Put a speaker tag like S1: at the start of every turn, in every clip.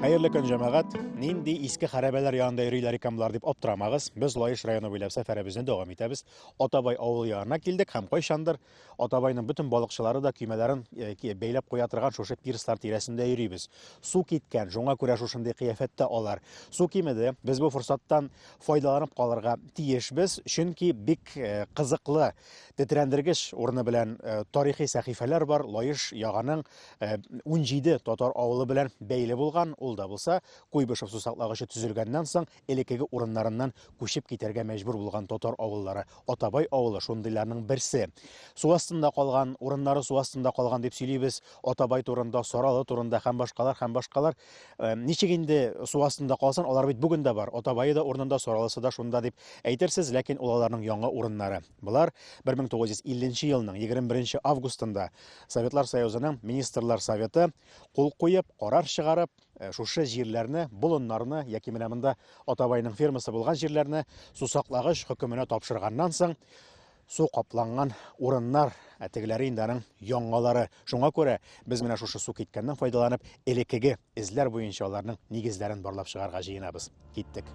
S1: Хәерле көн, җәмәгать! Нинди иске хәрәбәләр янында йөриләр икән болар дип аптырамагыз. Без Лаеш районы буйлап сәфәребезне дәвам итәбез. Атабай авылы янына килдек һәм кайчандыр Атабайның бөтен балыкчылары да көймәләрен э, бәйләп куя торган шушы пирслар тирәсендә йөрибез. Су киткән, шуңа күрә шушындый кыяфәттә алар. Су кимеде. Без бу форсаттан файдаланып калырга тиешбез, чөнки бик э, кызыклы, тетрәндергеч урыны белән э, тарихи сәхифәләр бар. Лаеш яганың 17 э, татар авылы белән бәйле булган, ул да булса Куйбышев сусаклагычы төзелгәннән соң элеккеге урыннарыннан күчеп китәргә мәҗбүр булган татар авыллары. Атабай авылы шундыйларның берсе. Су астында калган, урыннары су астында калган дип сөйлибез. Атабай турында, Саралы турында һәм башкалар һәм башкалар. Э, ничек инде су астында калсын, алар бит бүген дә бар. Атабайы да урынында, Саралысы да шунда дип әйтерсез, ләкин ул аларның яңа урыннары. Болар 1950 елның 21 августында Советлар Союзының Министрлар Советы кул куеп, карар чыгарып, э, шушы җирләрне, болыннарны яки менә монда Атабайның фермасы булган җирләрне сусаклагыч хөкеменә тапшырганнан соң су капланган урыннар ә тегеләре инде аның яңалары. Шуңа күрә без менә шушы су киткәннән файдаланып, элеккеге Эзләр буенча аларның нигезләрен барлап чыгарга җыенабыз. Киттек.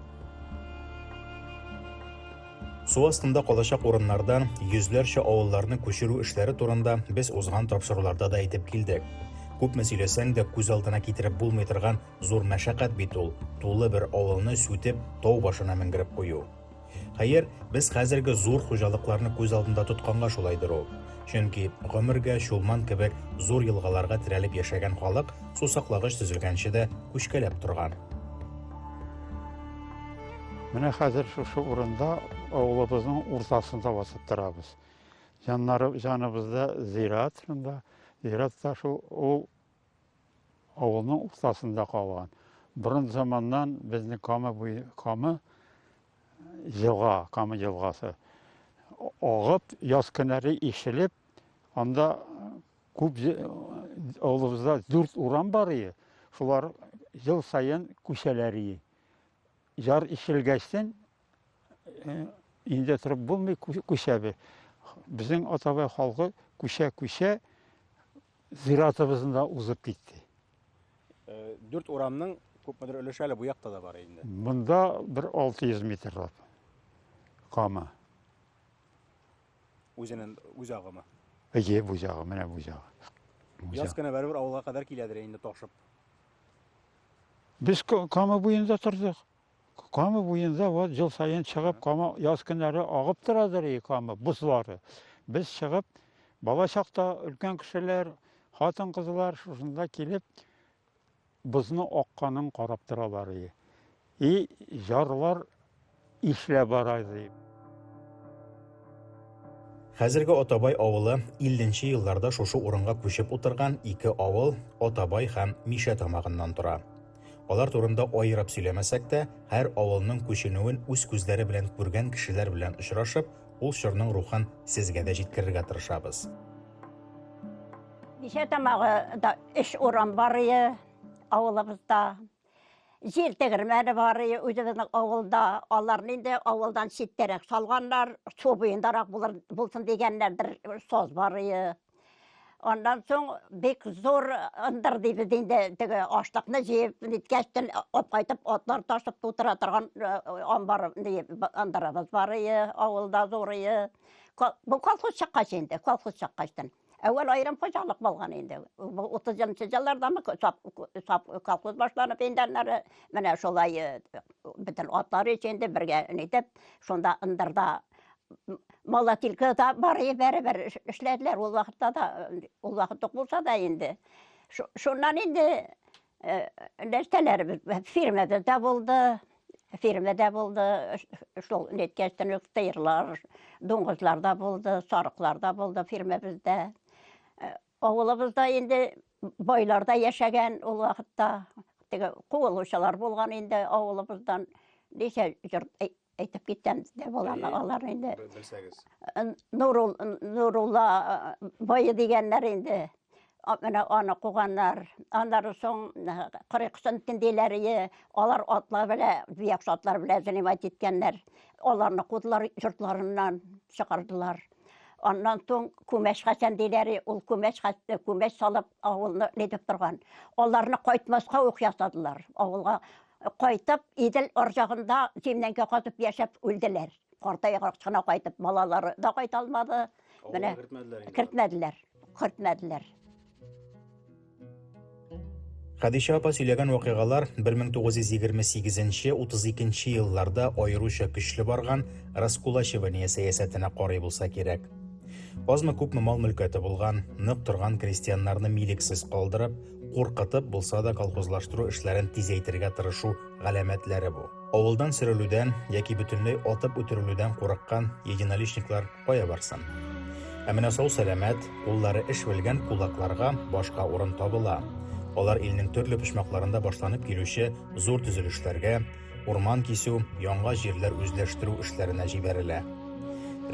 S1: Су астында калачак урыннардан йөзләрчә авылларны күчерү эшләре турында без узган тапшыруларда да әйтеп килдек. Күпме сөйләсәң дә күз алдына китереп булмый торган зур мәшәкать бит ул, тулы бер авылны сүтеп, тау башына менгереп кую. Хәер, без хәзерге зур хуҗалыкларны күз алдында тотканга шулайдыр ул. Чөнки гомергә Чулман кебек зур елгаларга терәлеп яшәгән халык сусаклагыч төзелгәнче дә күчкәләп торган.
S2: Менә хәзер шушы урында авылыбызның уртасында басып торабыз. Җаннары җаныбызда зират шунда. Зират та шул ул Авылның уртасында калган. Борын заманнан безнең Кама буе, Кама елга, Кама елгасы агып, яз көннәре ишелеп, анда күп авылыбызда дүрт урам бар иде. Шулар ел саен күчәләр иде. Яр ишелгәчтен Инде торып булмый күчәбез. Безнең атабай халкы күчә-күчә зиратыбызында узып китте. Э,
S1: дүрт урамның күпмедер өлеше әле бу якта да бар инде. Монда бер
S2: 600 метрлап кама.
S1: Үзенең үз агымы. Әйе, бу ягы,
S2: менә бу ягы. Яз көне
S1: бәрбер авылга кадәр киләдер инде ташып.
S2: Без кама буенда тордык. Кама буенда вот жыл сайын чыгып, Кама яз көннәре агып торадыр и Кама бозлары. Без чыгып, бала чакта өлкән кешеләр, хатын-кызлар шушында килеп бозны акканын карап торалар и. И жарлар ишләп бара ди.
S1: Хәзерге Атабай авылы 50 нче елларда шушы урынга күчеп утырган ике авыл, Атабай һәм Мишә тамагыннан тора. Алар турында аерып сөйләмәсәк тә, һәр авылның күченүен үз күзләре белән күргән кешеләр белән очрашып, ул чорның рухын сезгә дә җиткерергә тырышабыз.
S3: Бишә тамагы да өч урам бар иде авылыбызда. Җир тегермәне бар иде үзебезнең авылда. Аларны инде авылдан читтәрәк салганнар, су буендарак булыр, булсын дигәннәрдер, соз бар иде. Аннан соң бик зур ындыр дибез инде теге ашлыкны җыеп ниткәч тен алып кайтып атлар ташып тутыра торган амбар ындырыбыз бар ие авылда зур ие бу колхоз чыккач инде колхоз чыккач тен әүвәл аерым хуҗалык булган инде бу утызынчы еллардамы колхоз башланып инде аннары менә шулай бөтен атлар өчен дә бергә нитеп шунда ындырда Малатилка да бар е бәрәбәр эшләделәр ул вакытта да, ул вакыт ук булса да инде. Шуннан инде нәрсәләребез фирмада да булды, фирмада булды, шул неткәчтән үк тыерлар, дуңгызлар да булды, сарыклар да булды фирмабызда. Авылыбызда инде байлар да яшәгән ул вакытта. Теге куылучылар булган инде авылыбыздан. Ничә җырт әй- әйтеп киткән дә була Әйе. алар инде. Бел- Белсәгез. Нурул, Нурулла э, бае дигәннәр инде. А- Менә аны куганнар. Аннары соң э, кырык сынтин диләр, ие, алар атлар белә, бияк атлар белә занимать иткәннәр. Аларны кудылар, йортларыннан чыгардылар. Аннан соң күмәч хәсән диләр, ул күмәч хәсән, күмәч салып авылны нидеп торган. Аларны кайтмаска ук ясадылар. Авылга кайтып, Идел арҗагында землянка казып яшәп үлделәр. Картайгач кына кайтып, балалары да кайта алмады. Менә кертмәделәр. Кертмәделәр.
S1: Хәдичә апа сөйләгән вакыйгалар 1928-32 елларда аеруча көчле барган раскулачивание сәясәтенә карый булса кирәк. Азмы күпме мал мөлкәте булган, нык торган крестьяннарны милексез калдырып, куркытып булса да колхозлаштыру эшләрен тизәйтергә тырышу галәмәтләре бу. Авылдан сөрелүдән яки бөтенләй атып үтерелүдән курыккан единоличниклар Кая барсын? Ә менә сау-сәламәт, куллары эш белгән кулакларга башка урын табыла. Алар илнең төрле почмакларында башланып килүче зур төзелешләргә, урман кисү, яңа җирләр үзләштерү эшләренә җибәрелә.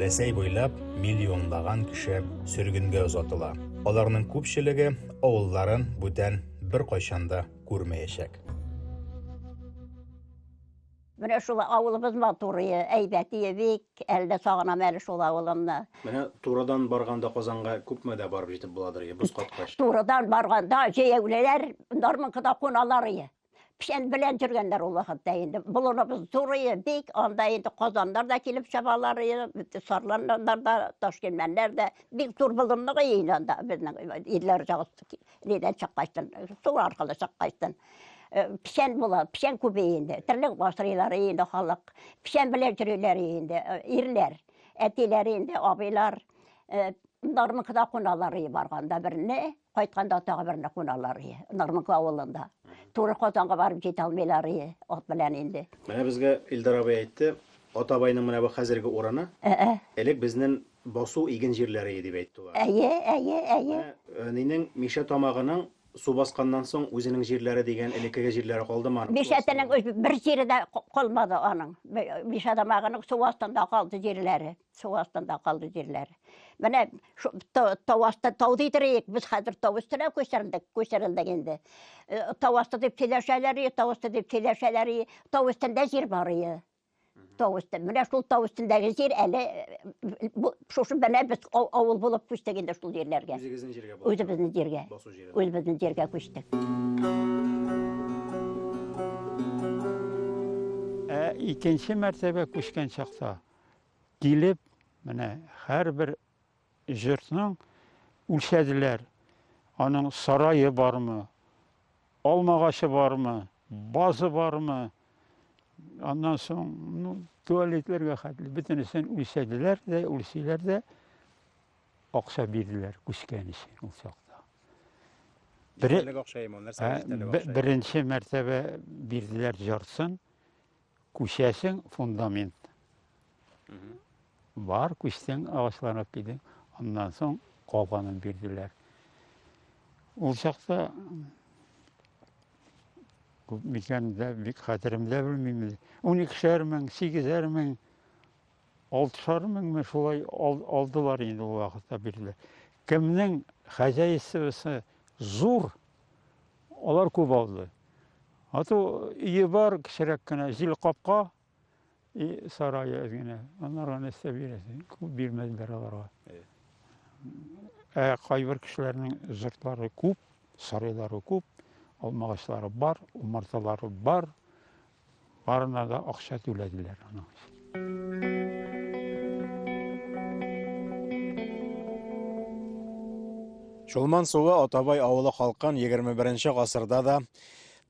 S1: Рәсәй буйлап миллионлаган кеше сөргенгә озатыла. Аларның күпчелеге авылларын бүтән бер кайчанда күрмәячәк.
S3: Менә шул авылыбыз матурые, әйбәтие бик, әле дә сагынам әле шул авылымны. Менә турыдан
S1: барганда Казанга күпме дә барып җитеп буладыр ие, боз каткач. Турыдан барганда
S3: җәяүлеләр Нарманкада куналар ие. Печән белән җөргәннәр ул вакытта инде. Болыныбыз зур ие, бик, анда инде казаннар да килеп чабалар ие, сарланнар да, ташкилмәннәр дә. Бик зур болынлык ие инде анда безнең ирләр җагы. Нидән чаккайсын, су аркылы чаккайсын. Э, печән була, печән күбе инде. Терлек басрыйлар инде халык. Печән белән йөриләр инде, э, ирләр. Әтиләр инде, абыйлар. Э, Нармыкда куналар и барганда берне, кайтканда тагы берне куналар и. Нармык авылында. Туры Казанга барып җитә алмыйлар и, ат белән инде. Менә безгә Илдар
S1: абый әйтте, Атабайның менә бу хәзерге урыны. Элек безнең Басу иген җирләрее дип әйттула. Әйе, әйе, әйе. Менә
S3: Нинең,
S1: Мишә Тамагының су басканнан соң үзенең җирләре дигән элеккеге җирләре калдымы аның? Мишә Тенең үз бер
S3: җире дә калмады аның. Мишә Тамагының су астында калды җирләре. Су астында калды җирләре. Менә шу тау асты, тау дидериек, без хәзер тау өстенә күчердек, күчерелдек инде. Тау асты дип сөйләшәләр, тау асты дип сөйләшәләр, тау өстендә җир бар. тау өстен менә шул тау өстендәге җир әле шушы менә без авыл булып күчтек инде шул җирләргә үзегезнең җиргә үзебезнең җиргә үзебезнең җиргә күчтек
S2: ә икенче мәртәбә күчкән чакта килеп менә һәрбер Җортның үлчәделәр, аның сарае бармы, алма агачы бармы, базы бармы, аннан соң, ну, туалетларга хәтле бөтенесен үлчәделәр дә, үлчиләр дә, акча бирделәр күчкән өчен ул чак. Бере- Эчтәлек акчаемы, нәрсә Ә, эчтәлек бе- акчаемы? беренче мәртәбә бирделәр җарсын Күчәсең фундамент. Бар күчтең агачларны кидең. Аннан соң калганын бирделәр. Ул чакта күп микән дә бик хәтеремдә белмим. Уникешәр мең, сигезәр мең, алтышар меңме шулай алдылар инде ул вакытта бирделәр. Кемнең хозяйствосы зур, алар күп алды. Ату өе бар, кечерәк кенә, җил капка и сарае әз генә. Аннары нәрсә бирәсең? Күп бирмәделәр аларга. Ә кайбер кешеләрнең жыртлары күп, сарайлары күп, алмагачлары бар, умарталары бар. Барына да акча түләделәр аның
S1: Чулман суы Атабай авылы халкын 21 гасырда да,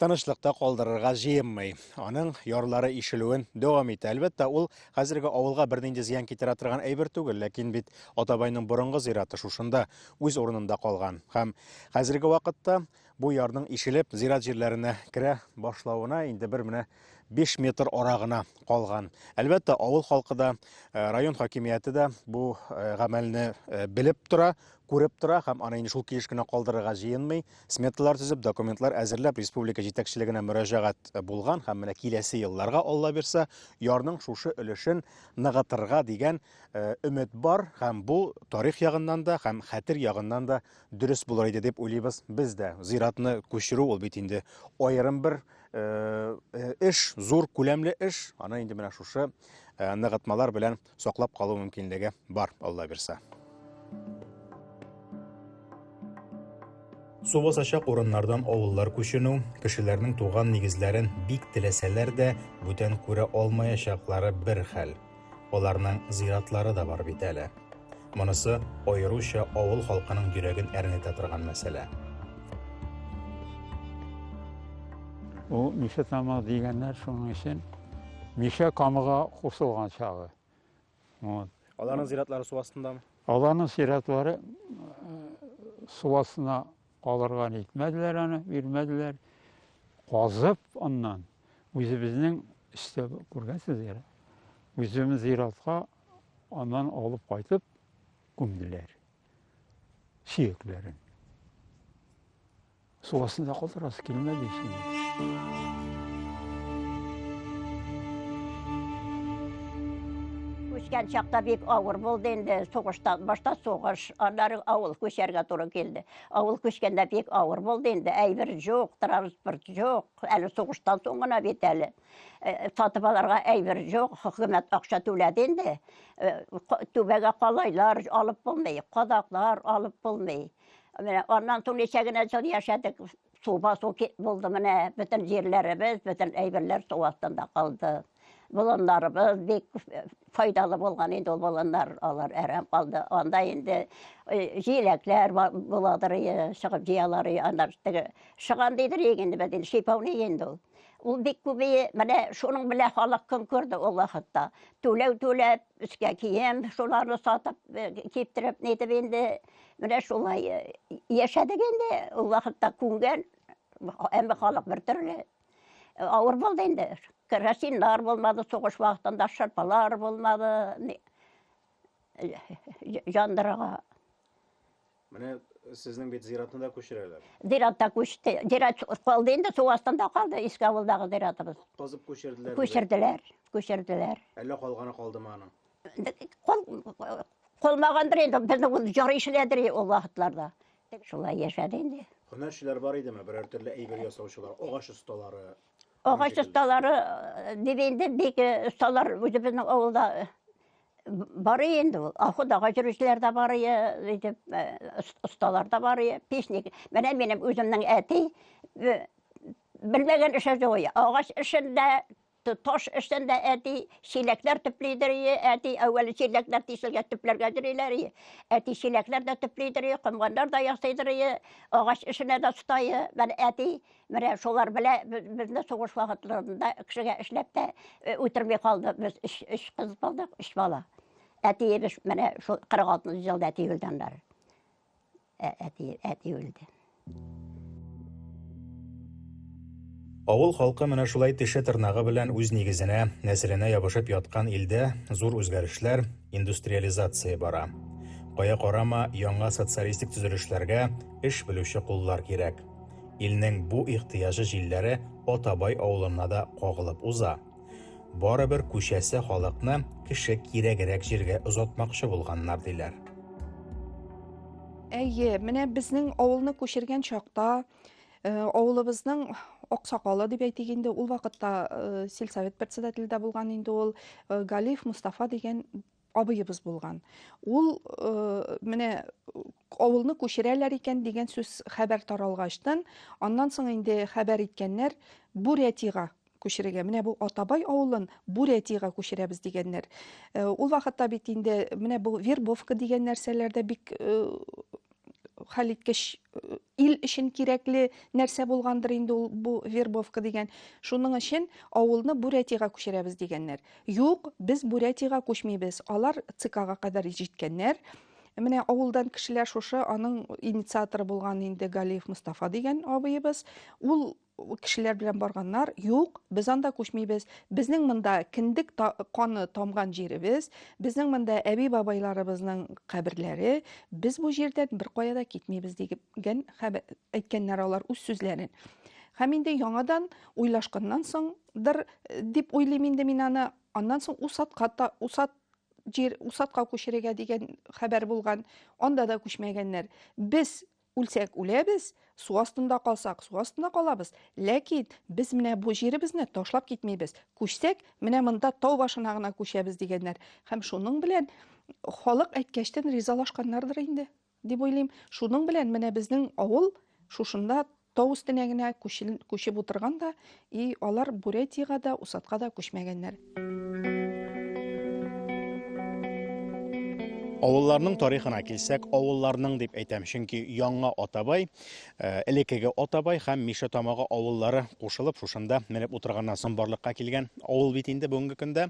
S1: тынычлыкта калдырырга җыенмый. Аның ярлары ишелүен дәвам итә. Әлбәттә, ул хәзерге авылга бернинди зыян китерә торган әйбер түгел, ләкин бит Атабайның борынгы зираты шушында, үз урынында калган. Һәм хәзерге вакытта бу ярның ишелеп, зират җирләренә керә башлавына инде бер менә 5 метр арагына калган. Әлбәттә, авыл халкы да, э, район хакимияте дә бу э, гамәлне э, белеп тора, күреп тора һәм аны инде шул килеш кенә калдырырга җыенмый. Сметалар төзеп, документлар әзерләп, республика җитәкчелегенә мөрәҗәгать э, булган һәм менә киләсе елларга, Алла бирсә, ярның шушы өлешен ныгытырга дигән э, өмет бар һәм бу тарих ягыннан да һәм хәтер ягыннан да дөрес булыр иде дип уйлыйбыз без дә. Зиратны күчерү ул бит инде аерым бер э, эш, зур күләмле эш. Аны инде менә шушы ныгытмалар белән саклап калу мөмкинлеге бар, Алла бирса. Су басачак урыннардан авыллар күченү, кешеләрнең туган нигезләрен бик теләсәләр дә, бүтән күрә алмаячаклары бер хәл. Аларның зиратлары да бар бит әле. Монысы аеруча авыл халкының йөрәген әрнетә торган мәсьәлә.
S2: Ул Мишә тамагы дигәннәр шуның өчен Мишә камыга кушылган чагы. Вот.
S1: Аларның зиратлары су астындамы? Аларның зиратлары
S2: су астына алырга нитмәделәр аны, бирмәделәр. Казып аннан үзебезнең өстә күргәнсез әле. Үзебез зиратка Аннан алып кайтып күмделәр. Сөякләрен. Су астында калдырасы килмәде Үскән
S3: чакта бик авыр булды инде. Сугыштан башта сугыш, аннары авыл күчәргә туры килде. Авыл күчкәндә бик авыр булды инде. Әйбер жоқ, транспорт жоқ. Әле сугыштан соң гына бит әле. Э, сатып алырга әйбер жоқ хөкүмәт акча түләде инде э, түбәгә калайлар алып булмый кадаклар алып булмый менә аннан соң ничә генә жыл яшәдек су басу булды менә бөтен җирләребез бөтен әйберләр су астында калды болыннарыбыз бик э, файдалы булган инде ул болыннар алар әрәм калды анда инде җиләкләр буладыр чыгып җыялар аннан теге шыган дидер инде без инде шипауный инде ул Ул бик күбее, менә шуның белән халык көн күрде ул вакытта. Түләү түләп, өскә кием, шуларны сатып, э, киптереп, нитеп инде, менә шулай э, яшәдек инде. Ул вакытта күнгән, әмма халык бер төрле. Э, авыр булды инде. Керосиннар булмады, сугыш вакытында шырпалар булмады. Җандырага
S1: Менә сезнең бит зиратны да күчерәләр. Зиратта күчте.
S3: Зират калды инде, су астында калды иске авылдагы зиратыбыз. Казып күчерделәр.
S1: Күчерделәр,
S3: күчерделәр.
S1: Әллә калганы калдымы аның? Кол,
S3: колмагандыр инде, безне ул җар ишләдер ул вакытларда. Шулай яшәде инде. Һөнәрчеләр бар идеме?
S1: Берәр төрле әйбер ясаучылар, агач осталары. Агач
S3: осталары э, дип инде бик осталар э, үзебезнең авылда э, Барый инде ул. Ахудага йөрүчеләр дә барый, итеп, осталар да барый, печник. Менә минем үземнең әти белмәгән эше юк. Агач эшендә, таш эшендә әти чиләкләр төплидер, әти әүвәл чиләкләр тишелгә төпләргә йөриләр. Әти чиләкләр дә төплидер, комганнар да ясыйдыр, агач эшенә дә оста. Менә әти Менә шулар белә безне сугыш вакытларында кешегә эшләп тә э, үтерми калды. Без өч, өч кыз булдык, өч бала. Әтиебез менә шул 46 елда әти үлде аннары. Ә, әти, әти үлде.
S1: Авыл халкы менә шулай теше тырнагы белән үз нигезенә, нәселенә ябышып яткан илдә зур үзгәрешләр, индустриализация бара. Кая карама, яңа социалистик төзелешләргә эш белүче куллар кирәк. Илнең бу ихтыяҗы җилләре Атабай авылына да кагылып уза. Барыбер күчәсе халыкны кеше кирәгрәк җиргә озатмакчы булганнар, диләр.
S4: Әйе, менә безнең авылны күчергән чакта э, авылыбызның аксакалы дип әйтик инде ул вакытта э, сельсовет председателе дә булган инде ул э, галиев мустафа дигән абыебыз булган. Ул э, менә авылны күчерәләр икән дигән сүз хәбәр таралгачтан, аннан соң инде хәбәр иткәннәр Бурятига күчерергә. Менә бу Атабай авылын Бурятига күчерәбез дигәннәр. Э, ул вакытта бит инде менә бу вербовка дигән нәрсәләрдә бик э, хәлиткеч ил өчен кирәкле нәрсә булгандыр инде ул бу вербовка дигән. Шуның өчен авылны Бурятиягә күчерәбез дигәннәр. Юк, без Бурятиягә күчмибез. Алар ЦКга кадәр җиткәннәр. Менә авылдан кешеләр шушы аның инициаторы булган инде Галиев Мустафа дигән абыебыз. Ул кешеләр белән барганнар, юк, без анда күчмибез, безнең монда киндек та, каны тамган җиребез, безнең монда әби-бабайларыбызның каберләре, без бу җирдән бер кая да китмибез дигән әйткәннәр алар үз сүзләрен. Һәм инде яңадан уйлашканнан соңдыр э, дип уйлыйм инде мин аны, аннан соң Усатка та, Усат җир Усатка күчерергә дигән хәбәр булган, анда да күчмәгәннәр. Без Үлсәк үләбез, су астында калсак, су астында калабыз. Ләкин без менә бу җиребезне ташлап китмибез. Күчсәк, менә монда тау башына гына күчәбез дигәннәр. Һәм шуның белән халык әйткәчтән ризалашканнардыр инде, дип уйлыйм. Шуның белән менә безнең авыл шушында тау өстенә генә күчеп утырган да, И алар Бурятиягә дә, Усатка да күчмәгәннәр.
S1: Авылларның тарихына килсәк, авылларның дип әйтәм, чөнки Яңа Атабай, э, элекеге Атабай һәм Миша Тамагы авыллары кушылып шушында менеп утырганнан соң барлыкка килгән авыл бит инде бүгенге көндә.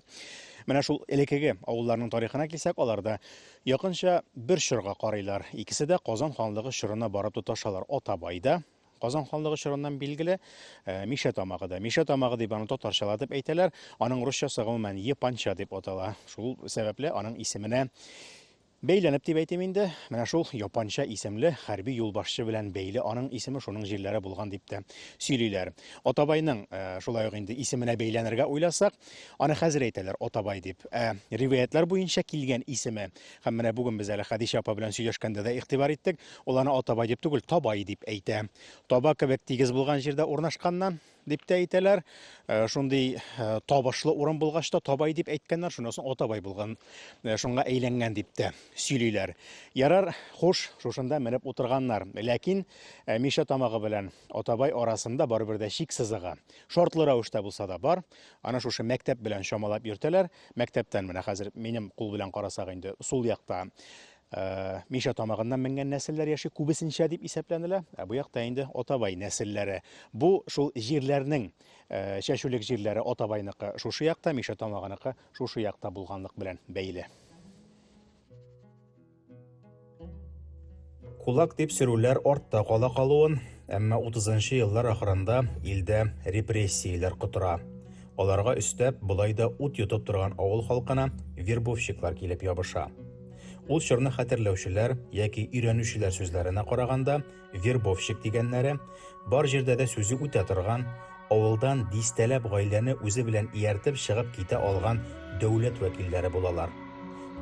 S1: Менә шул элекеге авылларның тарихына килсәк, аларда якынча бер чорга карыйлар. Икесе дә Казан ханлыгы чорына барып тоташалар. Атабай да, Казан ханлыгы чорыннан билгеле э, Мишә тамагы да. Мишә тамагы дип аны татарчалар дип әйтәләр. Аның русчасы гомумән Епанча дип атала. Шул сәбәпле аның исеменә Бәйләнеп дип әйтим инде, менә шул япанча исемле хәрби юлбашчы белән бәйле аның исеме шуның җирләре булган дип тә сөйлиләр. Атабайның э, шулай ук инде исеменә бәйләнергә уйласак, аны хәзер әйтәләр Атабай дип. Ә риваятьләр буенча килгән исеме Һәм менә бүген без әле Хәдичә апа белән сөйләшкәндә дә игътибар иттек, ул аны Атабай дип түгел, Табай дип әйтә. Таба кебек тигез булган җирдә урнашканнан, дип тә әйтәләр. Э, шундый э, табышлы урын булгач та Табай дип әйткәннәр, шуннан соң Атабай булган, э, шуңа әйләнгән дип тә сөйлиләр. Ярар, хуш, шушында менеп утырганнар. Ләкин Миша тамагы белән Атабай арасында барыбер дә чик сызыгы. Шартлы рәвештә булса да бар. Аны шушы мәктәп белән чамалап йөртәләр. Мәктәптән менә хәзер минем кул белән карасак инде сул якта Э, миша тамагыннан менгән нәселләр яши күбесенчә дип исәпләнелә ә бу якта инде атабай нәселләре бу шул җирләрнең э, чәчүлек җирләре атабайныкы шушы якта миша тамагыныкы шушы якта булганлык белән бәйле Кулак дип сөрүләр артта кала калуын, әмма 30-нчы еллар ахырында илдә репрессияләр котыра. Аларга өстәп, болай да ут йотып торган авыл халкына вербовщиклар килеп ябыша. Ул чорны хәтерләүчеләр яки өйрәнүчеләр сүзләренә караганда, Вербовщик дигәннәре, бар җирдә дә сүзе үтә торган, авылдан дистәләп гаиләне үзе белән ияртеп чыгып китә алган дәүләт вәкилләре булалар.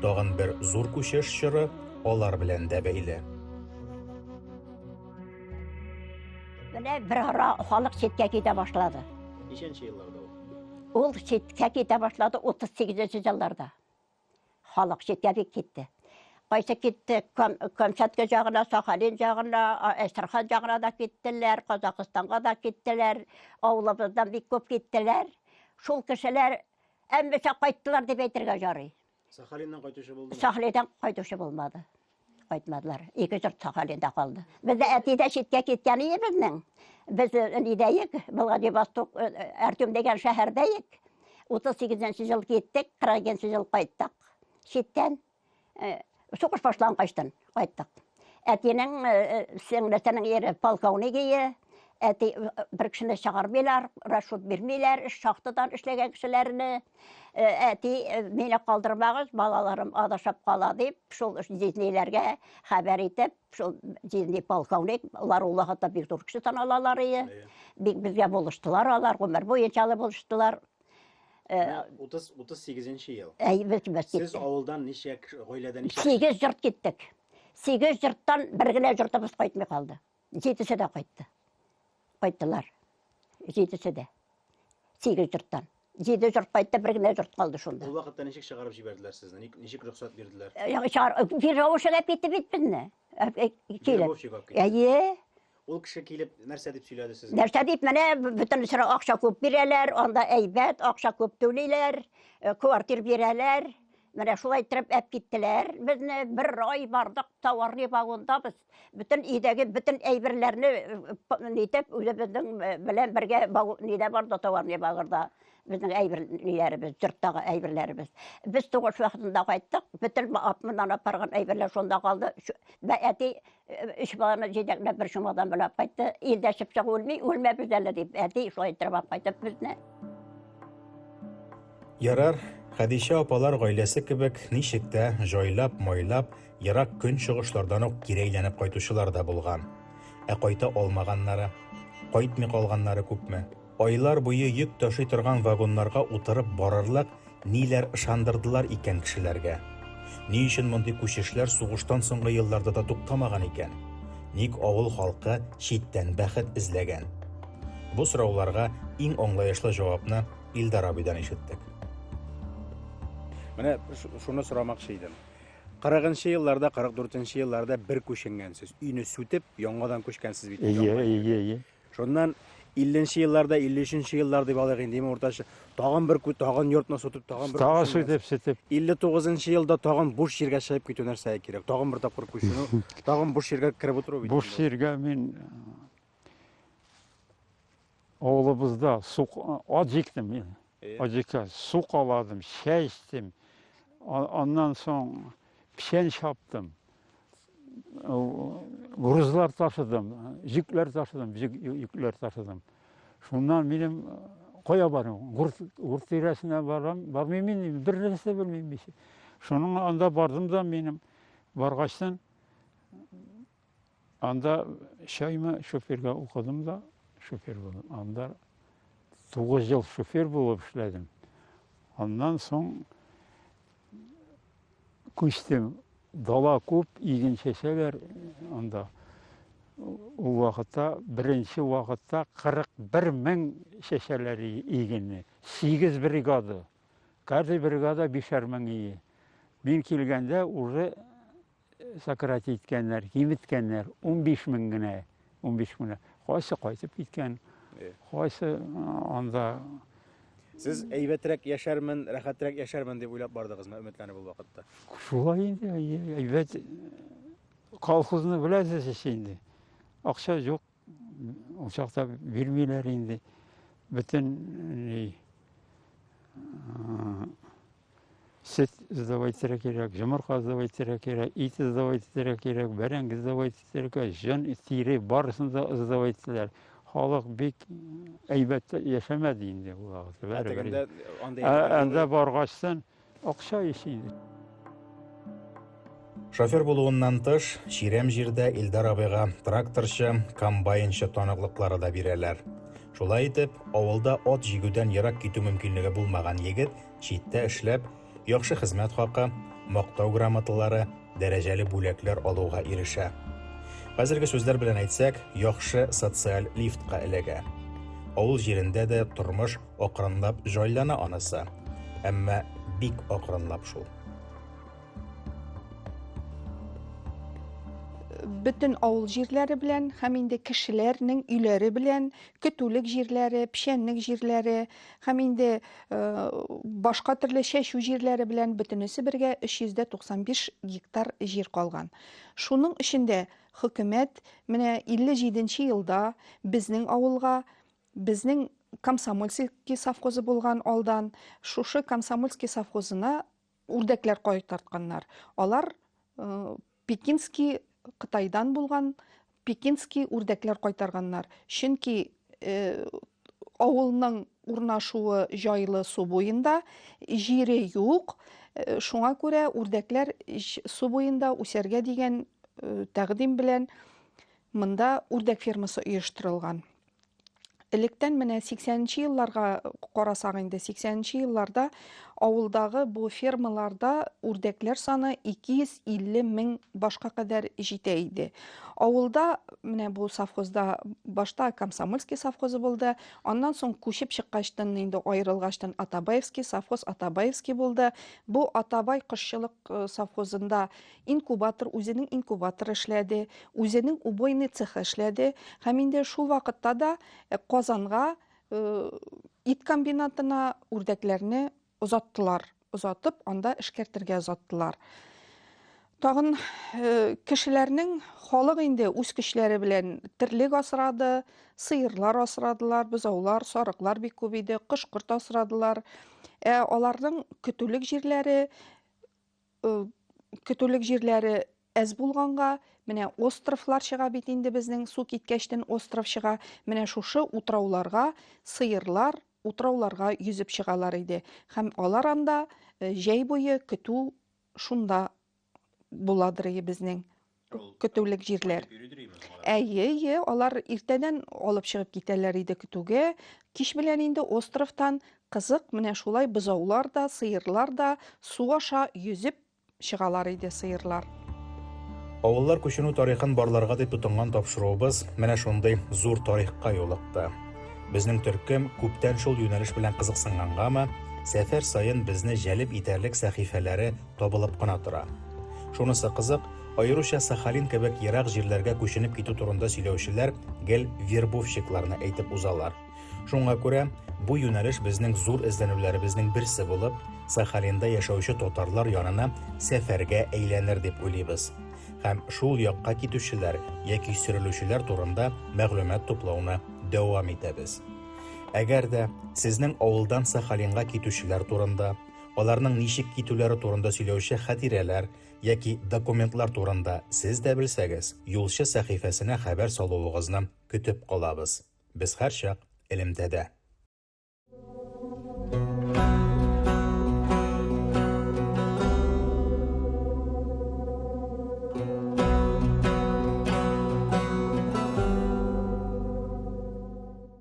S1: Тагын бер зур күчеш чоры алар белән дә бәйле.
S3: Менә бер ара халык читкә китә башлады. Ничәнче елларда
S1: ул? Ул читкә
S3: китә башлады 38 елларда. Халык читкә бик китте. Кайсы китте, Камчатка җагына, Сахалин җагына, Әстерхан җагына да киттеләр, Казакъстанга да киттеләр, авылыбыздан бик күп киттеләр. Шул кешеләр әммәчә кайттылар дип әйтергә ярый. Сахалиннан кайтучы
S1: булды. Сахалиннан кайтучы
S3: булмады. Кайтмадылар. Ике җорт Сахалинда калды. Без дә әти дә читкә киткән иде безнең. Без э, нидәек, Владивосток, э, э, Артем дигән шәһәрдәек. 38 жыл киттек, 42 жыл кайттык. Читтән сугыш башлангаштан кайттык. Әтинең сеңлесенең ире полковник ие, әти бер кешене чыгармыйлар, расчет бирмиләр, шахтадан эшләгән кешеләрне. Э, әти э, мине калдырмагыз балаларым адашып кала дип шул җизниләргә хәбәр итеп шул җизни полковник алар улы хата бик зур кеше таналалар ие бик безгә булыштылар алар гомер буе чалы булыштылар э, утыз утыз
S1: сигезенче ел әй без без сез авылдан ничә гаиләдә ничә сигез җорт киттек
S3: сигез җорттан бер генә җортыбыз кайтмый калды Җидесе дә кайтты. Кайттылар. Җидесе дә. Сигез җорттан. Җиде җорт кайтты, бер генә җорт калды шунда. Ул вакытта ничек чыгарып
S1: җибәрделәр сезне? Ник- Ничек рөхсәт бирделәр? Э, яңа чыгар- э, Веровщик
S3: әп итте бит безне. Э, э, килеп. Веровщик алып китте. Әйе.
S1: Ул кеше килеп нәрсә дип сөйләде сезгә? Нәрсә дип менә б-
S3: бөтен сыра акча күп бирәләр, анда әйбәт, акча күп түлиләр, э, квартир бирәләр. Менә шулай иттереп әп киттеләр. Безне бер ай бардык, товарный вагонда без. Бүтән идәге бүтән әйберләрне нитеп үзебезнең белән бергә нидә бар да товарный багырда безнең әйбер ниләребез, йорттагы әйберләребез. Без тугыш вакытында кайттык, бүтән апмыннан апарган әйберләр шунда калды. Әти үч баланы җитәкләп бер чумадан белән кайтты. Илдә чыпчык үлми, үлмәбез әле дип, әти шулай итеп кайтып безне.
S1: Ярар, Хәдичә апалар гаиләсе кебек ничек тә җайлап-майлап ерак көнчыгышлардан ук кире әйләнеп кайтучылар да булган. Ә кайта алмаганнары, кайтмый калганнары күпме? Айлар буе йөк ташый торган вагоннарга утырып барырлык ниләр ышандырдылар икән кешеләргә? Ни өчен мондый күчешләр сугыштан соңгы елларда да туктамаган икән? Ник авыл халкы читтән бәхет эзләгән? Бу сорауларга иң аңлаешлы җавапны Илдар абыйдан ишеттек. Менә шуны сорамакчы идем. 40-нчы елларда, 44-нче елларда бер күченгәнсез. Өйне сүтеп, яңадан күчкәнсез бит. Ие, ие, ие.
S2: Шуннан
S1: 50-нче елларда, 53-нче еллар дип алыйк инде, име уртача. Тагын бер күт, тагын йортны сүтеп, тагын бер Тагы сүтеп, сүтеп.
S2: 59-нчы елда
S1: тагын буш җиргә чыгып китү нәрсәгә кирәк? Тагын бер тапкыр күченү, тагын буш җиргә кереп утыру бит. Буш җиргә мин
S2: Авылыбызда су ат җиктем мин. Аҗика су каладым, чәй эчтем. Аннан соң печән чаптым. Грузлар ташыдым, җекләр ташыдым, җекләр ташыдым. Шуннан минем кая барам? Гурт, гурт тирәсенә барам, бармыйм инде, бер нәрсә белмим. Шуның анда бардым да минем баргачтан Анда шәймә шоферга укыдым да, шофер булдым. Анда тугыз ел шофер булып эшләдем. Аннан соң күчтем. Дала күп, иген чәчәләр анда. Ул вакытта, беренче вакытта 41 мең чәчәләр игенне. 8 бригада. Каждый бригада бишәр мең ие. Мин килгәндә уже сократить иткәннәр, киметкәннәр, 15 мең генә, 15 мең генә. Кайсы кайтып киткән, кайсы анда...
S1: Сез әйбәтрәк яшәрмен, рәхәтрәк яшәрмен дип уйлап бардыгызмы, өметләнеп ул вакытта? Шулай инде,
S2: әйбәт колхозны беләсез ич инде. Акча юк, Ул чакта бирмиләр инде. Бөтен э, сөт сдавать итәргә кирәк, йомырка сдавать итәргә кирәк, ит сдавать итәргә кирәк, бәрәңге сдавать итәргә, җон, тире барысын да сдавать итәләр. Халык бик әйбәт яшәмәде инде ул вакытта. Ә бәрабәр. тегендә андый Ә- Анда баргачтан Акча ише иде.
S1: Шофер булуыннан тыш, чирәм җирдә Илдар абыйга тракторчы, комбайнчы таныклыклары да бирәләр. Шулай итеп, авылда ат җигүдән ерак китү мөмкинлеге булмаган егет читтә эшләп, яхшы хезмәт хакы, мактау грамоталары, дәрәҗәле бүләкләр алуга ирешә. Хәзерге сүзләр белән әйтсәк, яхшы социаль лифтка эләгә. Авыл җирендә дә тормыш Акрынлап җайлана анысы. Әмма бик акрынлап шул.
S4: бөтен авыл җирләре белән һәм инде кешеләрнең өйләре белән көтүлек җирләре, печәнлек җирләре һәм инде э, башка төрле чәчү җирләре белән бөтенесе бергә 395 гектар җир калган. Шуның эчендә хөкүмәт менә 57 елда безнең авылга Безнең Комсомольский совхозы булган алдан, шушы Комсомольский совхозына үрдәкләр кайтартканнар. Алар э, Пекинский Кытайдан булган Пекинский үрдәкләр кайтарганнар. Чөнки э, авылның урнашуы җайлы су буенда, җире юк. Э, шуңа күрә үрдәкләр су буенда үсәргә дигән э, тәкъдим белән монда үрдәк фермасы оештырылган. Электән менә 80-нче елларга карасак инде, 80-нче елларда авылдагы бу фермаларда үрдәкләр саны 250 мең башка кадәр җитә иде. Авылда менә бу совхозда башта Комсомольский совхозы булды, аннан соң күчеп чыккачтын инде аерылгачтын Атабаевский совхоз Атабаевский булды. Бу Атабай кошчылык э, совхозында Инкубатор, үзенең инкубаторы эшләде, үзенең убойный цехы эшләде һәм инде шул вакытта да э, Казанга э, ит комбинатына үрдәкләрне озаттылар. Озатып, анда эшкәртергә озаттылар. Тагын э, кешеләрнең халык инде үз көчләре белән терлек асрады, сыерлар асрадылар, бозаулар, сарыклар бик күп иде, кош-корт асрадылар. Ә аларның көтүлек җирләре көтүлек җирләре әз булганга, менә островлар чыга бит инде безнең су киткәчтен остров чыга. Менә шушы утрауларга сыерлар утрауларга йөзеп чыгалар иде. Һәм алар анда җәй буе көтү шунда буладыр безнең. көтүлек җирләр. Әйе, әйе, алар иртәдән алып чыгып китәләр иде көтүгә. Кич белән инде островтан кызык менә шулай бозаулар да, сыерлар да су аша йөзеп чыгалар иде сыерлар.
S1: Авыллар күченү тарихын барларга дип тотынган тапшыруыбыз менә шундый зур тарихка юлыкты. Безнең төркем күптән шул юнәлеш белән кызыксынгангамы, сәфәр саен безне җәлеп итәрлек сәхифәләре табылып кына тора. Шунысы кызык, аеруча Сахалин кебек ерак җирләргә күченеп китү турында сөйләүчеләр гел вербовщикларны әйтеп узалар. Шуңа күрә бу юнәлеш безнең зур эзләнүләребезнең берсе булып, Сахалинда яшәүче татарлар янына сәфәргә әйләнер дип уйлыйбыз һәм шул якка китүчеләр яки сөрелүчеләр турында мәгълүмат туплауны дәвам итәбез. Әгәр дә сезнең авылдан Сахалинга китүчеләр турында, Аларның ничек китүләре турында сөйләүче хатирәләр яки документлар турында сез дә белсәгез, Юлчы сәхифәсенә хәбәр салуыгызны көтеп калабыз. Без һәрчак элемтәдә.